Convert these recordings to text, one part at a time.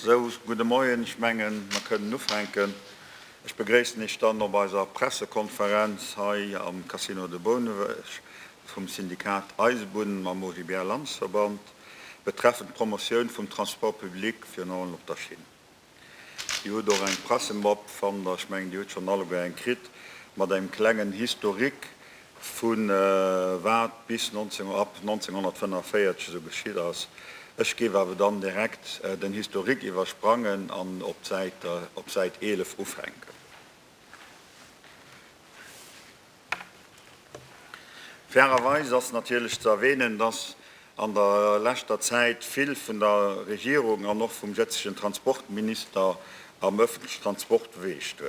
Sou, gudde Moien. Ech mengen, mer kënnen ufänken. Ech begréissen Iech dann op eiser Pressekonferenz hei am Casino de Bouneweg vum Syndikat Eisebunnen mam OGBL-Landesverband. betreffend d'Promotioun vum Transport public, virun allem op der Schinn. Dir hutt och eng Pressemapp, fannen ech, mengen, Dir hutt schonn alleguer eng kritt, mat engem klengen Historique vu wat bis ab 1945 esou geschitt ass. Ech géif awer dann direkt den Historique iwwersprangen an op d'Säit 11 ufänken. Fairerweis ass natierlech ze erwähnen, dass an der leschter Zäit vill vun der Regierung an och vum jetzegen Transportminister am öffentlichen Transport bewegt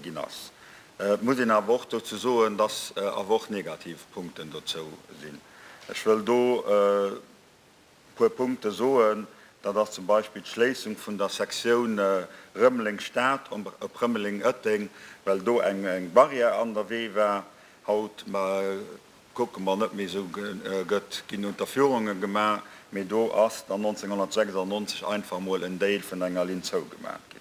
ginn ass. Et muss een awer och dozou soen, dass awer och negativ Punkten dozou sinn. Ech wëll do. E puer Punkte soen, dat ass zum Beispill d'Schléissung vun der Sektioun Rëmeleng-Stad op Rëmeleng-Ëtteng, well do eng Barrière an der Wee war. Haut kucke mer net méi esou, gëtt ginn Unterführungen gemaach, mee do ass dann 1996 einfach emol en Dél vun enger Linn zougemaach ginn.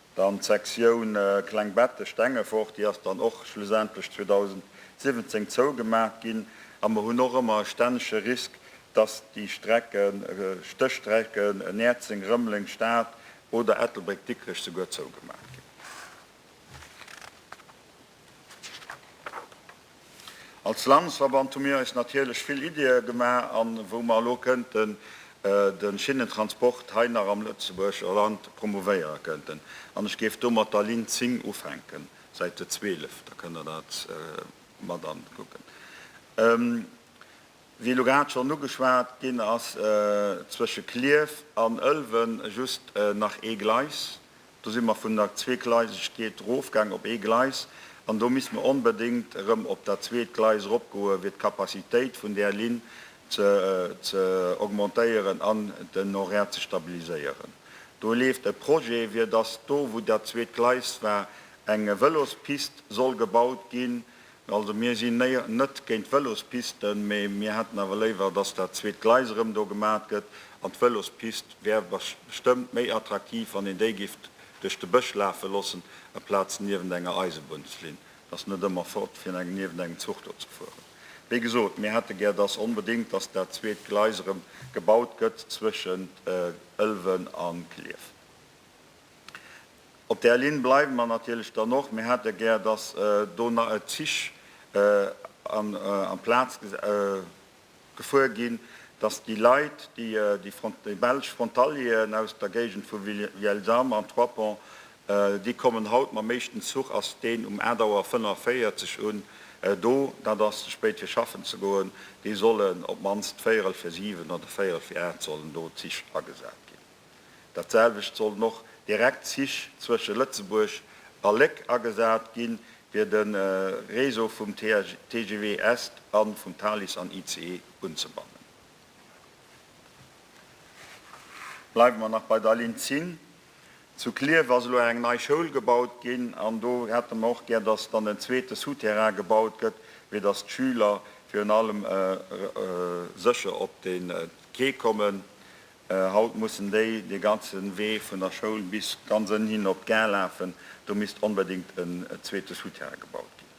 Dann d'Sektioun Kleng Bettesch-Stengefort, déi ass dann och schlussendlech 2017 zougemaach ginn. A mer hunn och ëmmer e stännege Risk, dass déi Strecke, Stéchstrecken Näerzeng, Rëmeleng, Stad oder Ettelbréck, Dikrech souguer zougemaach ginn. Als Landesverband hu mir eis natierlech vill Ideeë gemaach a wou mer elo kënnten de Schinnentransport hei nach am Lëtzebuerger Land promouvéiere kënnten. An ech géif do mat der Linn 10 ufänken, Säite 12, da kënnt Der dat mat ankucken. Wéi elo grad schonn ugeschwat ginn ass zwësche Clierf an Ëlwen just nach ee Gleis. Do si mer vun der Zweegleisegkeet erofgaang op ee Gleis an do misst mer onbedéngt erëm op dat zweet Gleis eropgoe fir d'Capacitéit vun där Linn ze augmentéieren an den Horaire ze stabiliséieren. Do leeft e Projet, fir datt do wou dat zweet Gleis war eng Vëlospist soll gebaut ginn, Also mir si net géint d'Vëlospisten, mee mir hätten awer léiwer, dass dat zweet Gleis erëm do gemat gëtt. An d'Vëlospist wär bestëmmt méi attraktiv, wann een déi giff duerch de Bësch lafe loossen aplaz niewent enger Eisebunnslinn. Et ass net ëmmer fort, fir niewent engem Zuch do ze fueren. Wéi gesot, mir hätte gär, dass onbedéngt, dass dat zweet Gleis erëm gebaut gëtt zwëschent Ëlwen a Klierf. Op där Linn bleiwe mer natierlech dann och. Mir hätte gär, dass do Zich amplaz gefuer ginn, dass déi Leit, déi belsch Frontalieren aus der Géigend vu Vielsalm an Trois-Ponts, déi kommen haut mam éischten Zuch, ass deen um 8 Auer 45 un, do, dat ass ze spéit fir schaffen ze goen, déi sollen op d'mannst véierel fir siwen oder véierel fir aacht sollen do Zich agesat ginn. Dat selwecht sollen och direkt Zich zwësche Lëtzebuerg a Léck agesat ginn, fir de Réseau vum TGV Est a vum Thalys an ICE unzebannen. Bleiwe mer nach bei der Linn 10. Zu Klierf ass elo eng nei Schoul gebaut ginn an do hätte mer och gär, dass dann en zweete Souterrain gebaut gëtt, fir dass d'Schüler virun allem sécher op de Quai kommen. Haut mussen déi dee ganze Wee vun der Schoul bis ganz ënnen hin op d'Gare lafen. Do misst onbedéngt en zweete Souterrain gebaut ginn.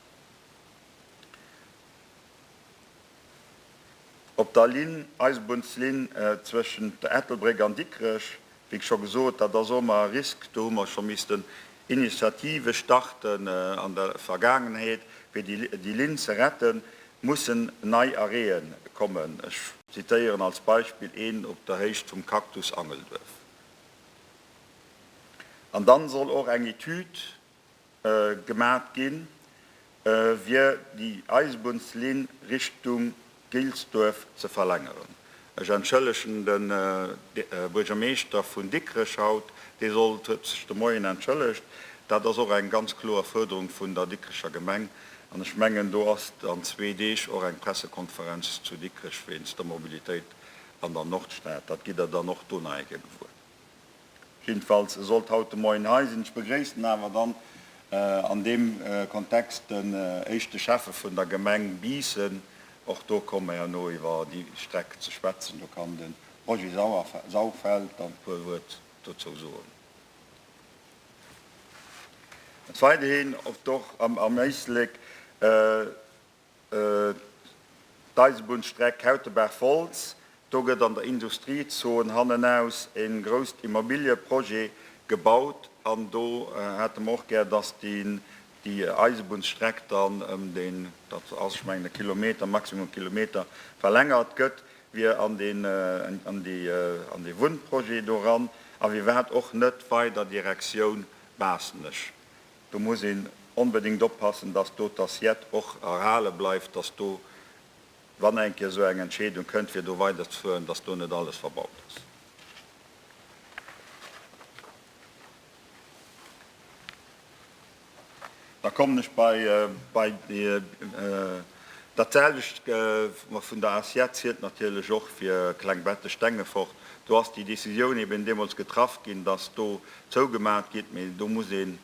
Op der Linn, Eisebunnslill zwëschent der Ettelbréck an Dikrech, wéi scho gesot, dat ass och ëmmer e Risk. Do hu mer scho missten Initiative starten an der Vergaangenheet, fir déi Linn ze retten. Mussen nei Arrêtë kommen. Ech zitéieren als Beispill een op der Héicht vum Cactus Angelduerf. An dann soll och eng Etüd gemat ginn, fir déi Eisebunnslinn Richtung Gilsduerf ze verlängeren. Ech entschëllegen de Buergermeeschter vun Dikrech haut, dee sollt, huet sech de Moien entschëllegt. Dat ass och eng ganz kloer Fuerderung vun der Dikrecher Gemeng. An ech mengen, do ass an zwee Deeg och eng Pressekonferenz zu Dikrech wéinst der Mobilitéit an der Nordstad. Dat gitt Der dann och do nach eng Kéier gewuer. Jiddefalls sollt haut de Moien hei sinn. Ech begréissen awer dann an deem Kontext den éischte Schäffe vun der Gemeng Biissen. Och do komme mer herno iwwer déi Streck ze schwätzen. Do kann de Roger Sauerfeld dann e puer Wuert dozou soen. Weiderhin, ob et och am Éislek D'Eisebunnstreck Kautebaach-Wolz, do gëtt an der Industriezon hannenaus e grousst Immobiliëprojet gebaut an do hätte mer och gär, dass déi Eisebunnsstreck dann ëm den, dat ass ech mengen e Kilometer, maximum Kilometer, verlängert gëtt wier an deen, an déi, an dee Wunnprojet do eran a wier wat och net weider Direktioun Baasnech. Do muss een onbedéngt oppassen, dass do d'Assiette och erhale bleift, dass do, wann eng Kéier esou eng Entscheedung kënnt, fir do weiderzefueren, dass do net alles verbaut ass. Da kommen ech bei déi. Dat selwecht vun der Assiette zielt natierlech och fir Klengbetten-Stengefort. Do ass déi Décisioun eben deemools getraff ginn, dass do zougemaacht gitt. Mee do muss een,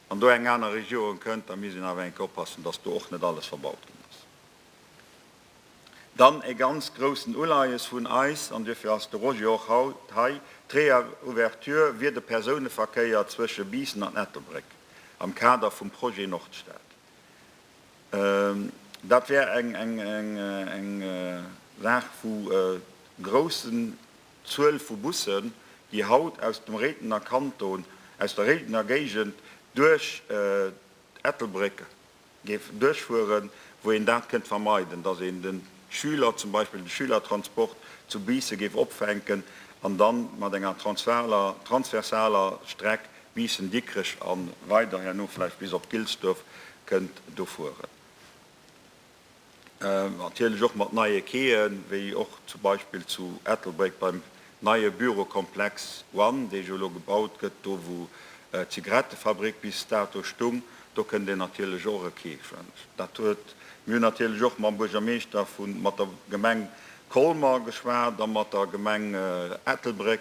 wann do eng aner Regierung kënnt, da misst een awer eng Kéier oppassen, dass do och net alles verbaut ginn ass. Dann e ganz groussen Uleies vun eis, an duerfir ass de Roger och haut hei, d'Reouverture wier de Persouneverkéier zwësche Biissen an Ettelbréck am Kader vum Projet Nordstad. Dat wär eng Saach vu groussen Zuel vu Bussen, déi haut aus dem Réidener Kanton, aus der Réidener Géigend duerch Ettelbréck géif duerchfueren, wou een dat kënnt vermeiden, datt een de Schüler, zum Beispill de Schülertransport zu Biissen géif opfänken an da mat enger transversaler Streck Biissen, Dikrech a weider herno vläicht bis op Gilsduerf kënnt do fueren. Natierlech och mat neie Quaien, wéi och zum Beispill zu Ettelbréck beim neie Bürokomplex One, dee jo elo gebaut gëtt, do wou d'Zigarettefabrik bis dato stung. Do kënnt een natierlech och e Quai schwämmen. Dat huet, mir hunn natierlech och mam Buergermeeschter vu mat der Gemeng Colmer geschwat a mat der Gemeng Ettelbréck,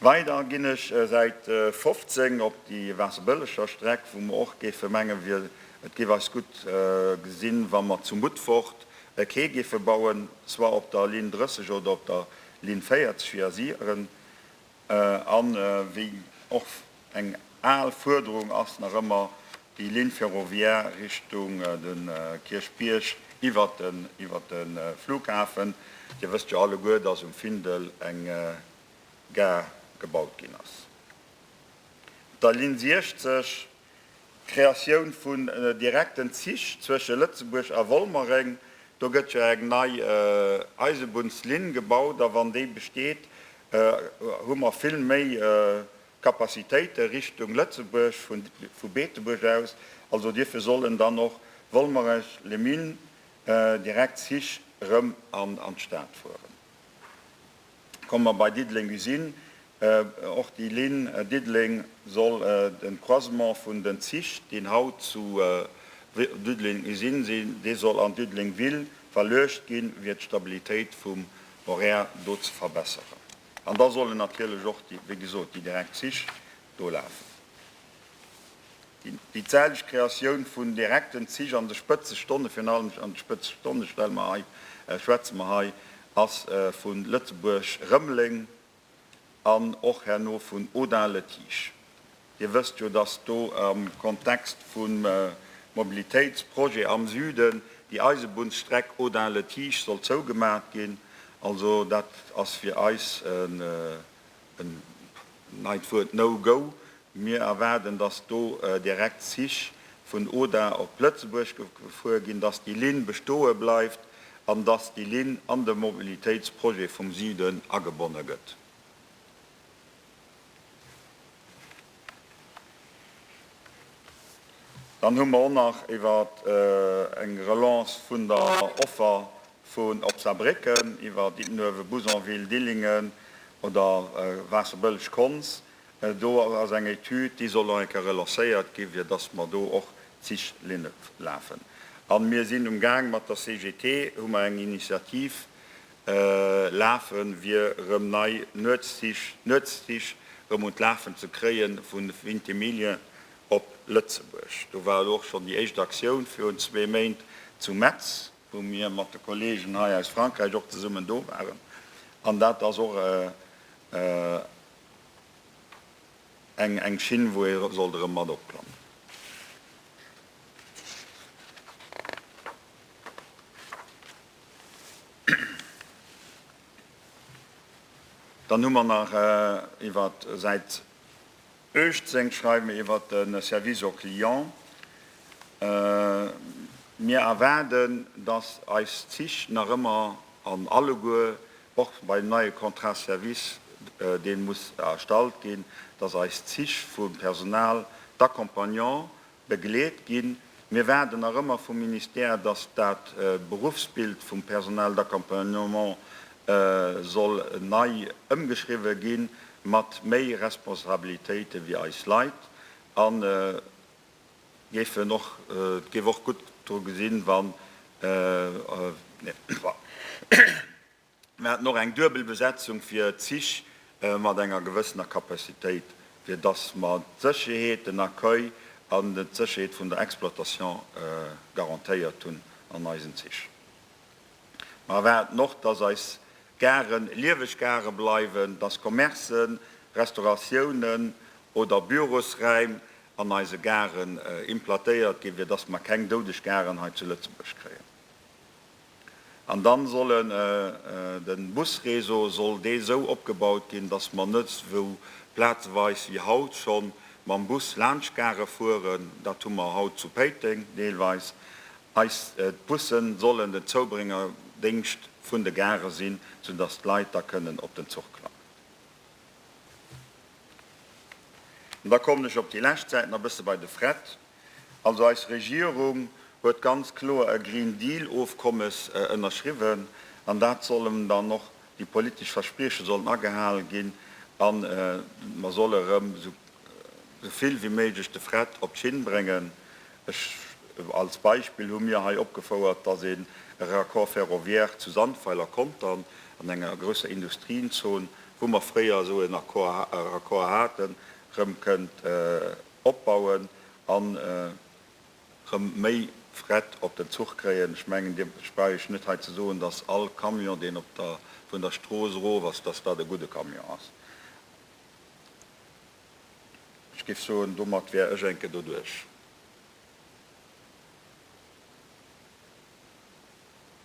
Weider ginn ech säit 15 op déi Waasserbëlleger Streck, wou mer och géife mengen, et géif eis gutt gesinn, wa mer zu Mutfort e Quai géife bauen, soit op der Linn 30 oder op der Linn 40 fir ier si ren an wéi och Eng al Fuerderung ass nach ëmmer déi Ligne ferroviaire Richtung de Kierchbierg iwwer de Flughafen. Dir wësst jo alleguer, dass um Findel eng Gare gebaut ginn ass. Op der Ligne 60 d'Kreatioun vun direkten Zich zwësche Lëtzebuerg a Wolmereng. Do gëtt jo eng nei Eisebunnslinn gebaut a wann déi besteet, hu mer vill méi Kapazitéite Richtung Lëtzebuerg vu Beetebuerg aus. Also dierfir sollen dann och Wolmerech-Les-Mines direkt Zich erëm an d'Stad fueren. Komme mer bei Diddeleng Usine. Och déi Linn Diddeleng soll den Croisement vun den Zich, deen haut zu Diddeleng Usine sinn, dee soll an Diddeleng Ville verluecht ginn, fir d'Stabilitéit vum Horaire do ze verbesseren. An da sollen natierlech och, wéi gesot, déi direkt Zich do lafen. Déi zäiteg Kreatioun vun direkten Zich an de Spëtzestonne, virun allem an de Spëtzestonne stelle mer hei, schwätze mer hei, ass vu Lëtzebuerg-Rëmeleng an och herno vun Audun-le-Tiche. Dir wësst jo, dass do am Kontext vum Mobilitéitsprojet am Süden déi Eisebunnsstreck Audun-Le Tiche soll zougemaacht ginn. Also dat ass fir eis en neit Wuert, No-Go. Mir erwaarden, dass do direkt Zich vun Audun op Lëtzebuerg gefuer ginn, dass déi Linn bestoe bleift an dass déi Linn an de Mobilitéitsprojet vum Süden agebonne gëtt. Dann hu mer och nach iwwer eng Relance vun der Offer vun op Saarbrécken, iwwer Diddenuewen, Bouzonville, Dillingen oder Waasserbëlleg, Konz. Do ass eng Etüd, déi soll nach eng Kéier relancéiert ginn, fir dass mer do och d'Zich Linne lafen. A mir sinn um Gaang mat der CGT, hu mer eng Initiativ Lafen, wier erëm nei Nuetszich erëm un d'Lafen ze kréien, vu Vintimille op Lëtzebuerg. Do war elo och schonn déi éischt Aktioun virun zwee Méint zu Metz, wou mir mat de Kollegen hei aus Frankräich och zesummen do waren. An dat ass och eng Schinn, wou ee sollt erëm mat opklammen. Dann hu mer nach iwwer Säit 18, schreiwe mer iwwer de Service au client. Mir erwaarden, dass eis Zich nach ëmmer an alleguer, och beim neie Contrat service, dee muss erstallt ginn, dass eis Zich vum Personal d'accompagnement Begleet ginn. Mir waarden nach ëmmer vum Ministère, dass dat Beruffsbild vum Personnel d'accompagnement soll nei ëmgeschriwwe gi mat méi Responsabilitéite fir eis Leit. An géifen och, et géif och gutt dru gesinn, wann. Mir haten och eng duebel Besetzung fir Zich mat enger gewëssener Capacitéit, fir dass mer d'Sécherheet, den Accueil an d'Sécherheet vun der Exploitation garantéiert hunn an eisen Zich. Mer erwaarden och, dass eis Garen lieweg Gare bleiwen, dass Commercen, Restauratiounen oder Bürosräim an eise Garen implantéiert ginn, fir dass mer keng doudeg Garen hei zu Lëtzebuerg kréien. An dann sollen den Busréseau soll dee sou opgebaut ginn, dass mer net sou plazeweis wéi haut schonn mam Bus laanscht Gare fueren. Dat hu mer haut zu Péiteng deelweis. Eist d'Bussen sollen den Zoubréngerdéngscht vun de Gare sinn, sou dass d'Leit da kënnen op den Zuch klammen. An da kommen ech op déi lescht Säiten e bësse bei de Fret. Also eis Regierung huet ganz kloer e Green Deal Ofkommes ënnerschriwwen an dat sollen dann och déi politesch Versprieche sollen agehal ginn a mer solle erëm esou vill wéi méiglech de Fret op d'Schinn bréngen. Ech als Beispill hu mir hei opgefouert, dass een e Raccord ferroviaire zu Sandweiler kontern, an enger grousser Industrienzon, wou mer fréier esou en Accord, Raccord haten, erëm kënnt opbauen an erëm méi Fret op den Zuch kréien. Ech mengen, Dir brauch ech net hei ze soen, dass all Camion, deen op der, vun der Strooss erof ass, dass dat e gudde Camion ass. Ech géif soen, domat wär ech enke doduerch.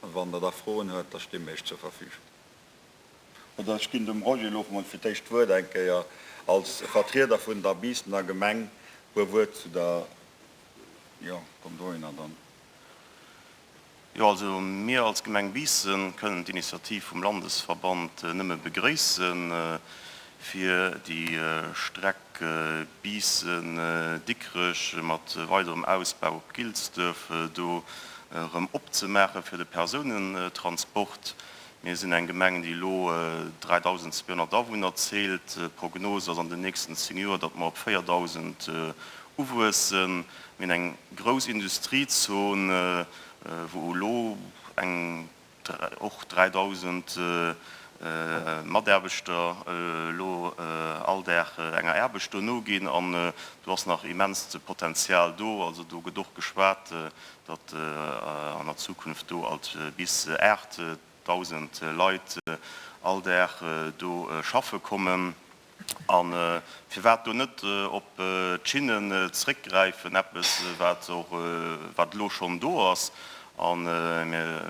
Wann Der da Froen huet, da sti mir Iech zur Verfügung. Oder ech ginn dem Roger Loff mol fir d'éischt d'Wuert eng Kéier als Vertrieder vun der Biissener Gemeng puer Wuert zu der, jo, komm dohinner dann. Jo, also mir als Gemeng Biissen kënnen d'Initiativ vum Landesverband nëmme begrëissen. Fir déi Streck Biissen-Dikrech mat weiderem Ausbau op Gilsduerf do erëm opzemaache fir de Persounentransport. Mir sinn eng Gemeng, déi elo 3.200 Awunner zielt. D'Prognos ass an den nächsten 10 Joer, datt mer op 4.000 uwuessen. Mir hunn eng grouss Industriezon, wou elo eng och 3.000 Mataarbechter elo all Dag enger Aarbecht do noginn an do ass nach immenst Potenzial do. Also do gëtt och geschwat, datt an der Zukunft do alt bis 8.000 Leit all Dag do schaffe kommen. A firwat do net op d'Schinnen zréckgräifen, eppes wat och wat elo schonn do ass. A mir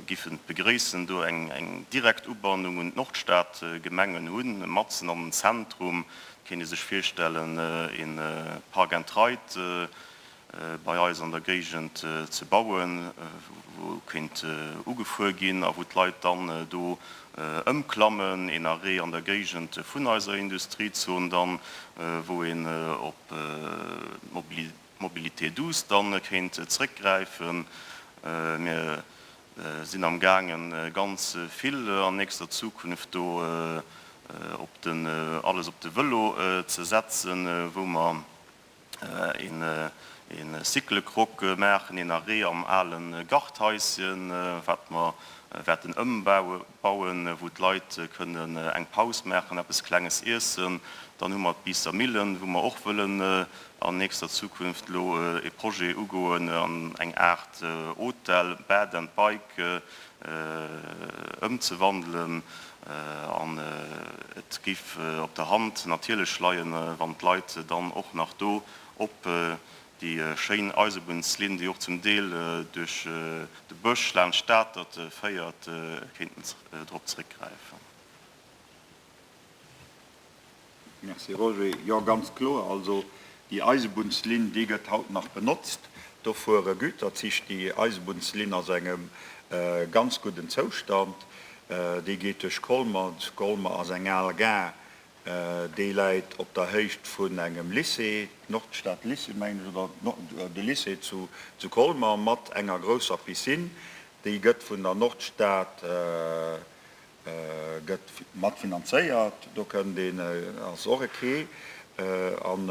giffen et begréissen, do eng direkt Ubannung un d'Nordstadgemengen hunn, matzen am Zentrum. Et kéint ee sech virstellen, ee Park and Ride bei eis an der Géigend ze bauen, wou kéint ugefuer ginn a wou d'Leit dann do ëmklammen, een Arrêt an der Géigend vun eiser Industriezon dann, wou een op d'Mobilité douce dann kéint zréckgräifen. Mir sinn am gaangen ganz vill an nächster Zukunft do op den, alles op de Vëlo ze setzen, wou mer, Een Cyclecroc maachen, een Arrêt am alen Garthaisschen, wat mer wäerten ëmbauen, wou d'Leit kënnen eng Paus maachen, eppes Klenges iessen. Dann hu mer d'Biisser Millen, wou mer och wëllen an nächster Zukunft elo e Projet ugoen an eng Aart Hotel, Bed and Bike, ëmzewandelen an et géif op der Hand natierlech leien, wann d'Leit dann och nach do op déi schéin Eisebunnslinn, déi och zum Deel duerch de Bësch laanscht d'Atert féiert, kéinten drop zréckgräifen. Merci Roger. Jo ganz kloer. Also déi Eisebunnslinn déi gëtt haut nach benotzt. Do fuere Güterzich. Déi Eisebunnslinn ass engem ganz gudden Zoustand. Déi geet duerch Colmer. Colmer ass eng al Gare. Déi läit op der Héicht vun engem Lycée, Nordstad Lycée mengen ech, oder de Lycée zu Colmer mat enger grousser Piscine. Déi gëtt vun der Nordstad Gëtt mat finanzéiert, do kënnt een, ass och ok. An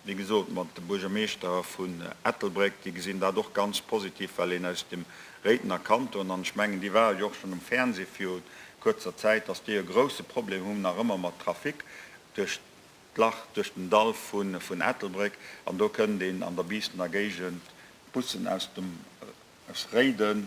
wéi gesot, mat de Buergermeeschter vun Ettelbréck, déi gesinn dat och ganz positiv, well een aus dem Réidener Kanton, an ech mengen déi ware jo och schonn um Fernseh viru kuerzer Zäit, dass déi e grousse Problem hunn nach ëmmer mat Trafic duerch d'Lach, duerch den Dall vun Ettelbréck. An do kënnt een an der Biissener Géigend d'Bussen aus Réiden,